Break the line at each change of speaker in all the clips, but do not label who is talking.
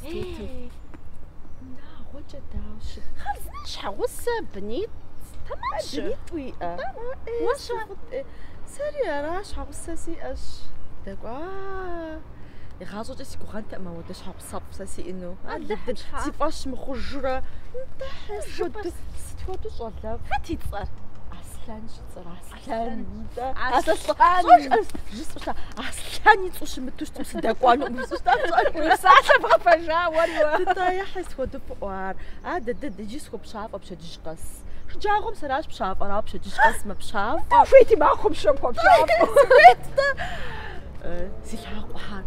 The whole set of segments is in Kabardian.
Тутым. Унагъуэкӏэ дауэ ущыт? Хъарзынэщ, щхьэгъусэ, бынитӏ тэмэмщ. Бынитӏ уиӏэ? Уэ щэ? Сэри аращ, щхьэгъусэ сиӏэщ. Удэкӏуа? Игъащӏэкӏэ си гугъэнтэкъым ауэдэ щхьэгъусэфӏ сэ сиӏэну. Алыхьым щхьа? Си фӏэщ мыхъужрэ. Нтӏэ, тхьэ, сыт хуэдэу щӏалэфӏ? Хэт и цӏэр? Аслъэнщ и цӏэр, Аслъэн. Аслъэн-тӏэ. Аслъэн. Пщӏэжрэ жысӏуща? Аслъэн и цӏу щымыту щытым сыдэкӏуэнукъым жысӏущта пщӏэрэ. Уи псалъэ бгъэпэжа уэри уэ. Нтӏэ, тхьэ, сыт хуэдэу фӏы ар. Адыдыд, иджы схуэпщафӏэ пщэдджыжь къэс. Шэджагъуэм сэращ пщафӏэр, ауэ пщэдджыжь къэс мэпщафӏэ. Уэ ухуейти махуэм щэ пхуэпщафӏэу. Сыхуейт-тӏэ. Си лъакъуэхьэр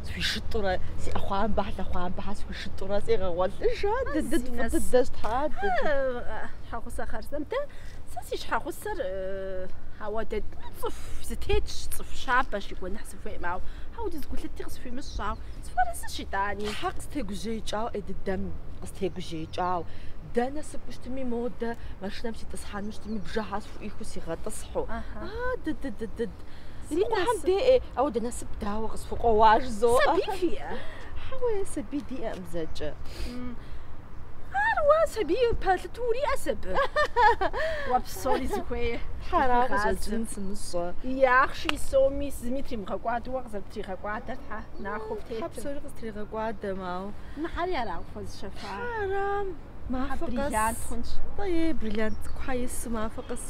схуишытӏурэ, си ӏэхъуамбэхьэр, лъэхъуамбэхьэр схуишытӏурэ сегъэгъуэлъыж. Адыдыд, фӏы дыдэщ, тхьэ, дыдыд. Щхьэгъусэ хъарзынэм. Дэ Сэ си щхьэгъусэр ауэдэ цӏыху зытетщ, цӏыху щабэщ и гуэныхь сыхуейм, ауэ ауэдэу зы гулъыти къысхуимыщӏауэ сыпэрысщ итӏани. Тхьэ къыстегужьеикӏауэ ӏей дыдэм, къыстегужьеикӏауэ. Дэнэ сыкӏуу щтми модэ, машинэм ситӏысхьэну щытми, бжэхьэр схуӏуихыу сигъэтӏысхьу. Ахьа. А, дыдыдыдыд. Зи Ди Къухьэм насып. деӏе, ауэ дэ насып дауэ къысхукъуэуа жызоӏэ. Сабий фиӏэ? Хьэуэ, сабий диӏэкъым зэкӏэ. Ара уэ сабий пэлъыт. Уриӏэ сабий. Уэ псори узыхуей. Тхьэ, ара къыщӏэкӏын сымыщӏэ. И ахъши и соми зыми тримыгъэкӏуадэ уэ къызэрыптригъэкӏуадэр Тхьэ нахуэ птетым. Тхьэ псори къыстригъэкӏуадэм ауэ. Мыхьэри ара къыпхуэзыщэфа? Тхьэ, ара, мафэ къэс. Бриллиант хъунщ. Е бриллиантхьэр ису мафэ къэс.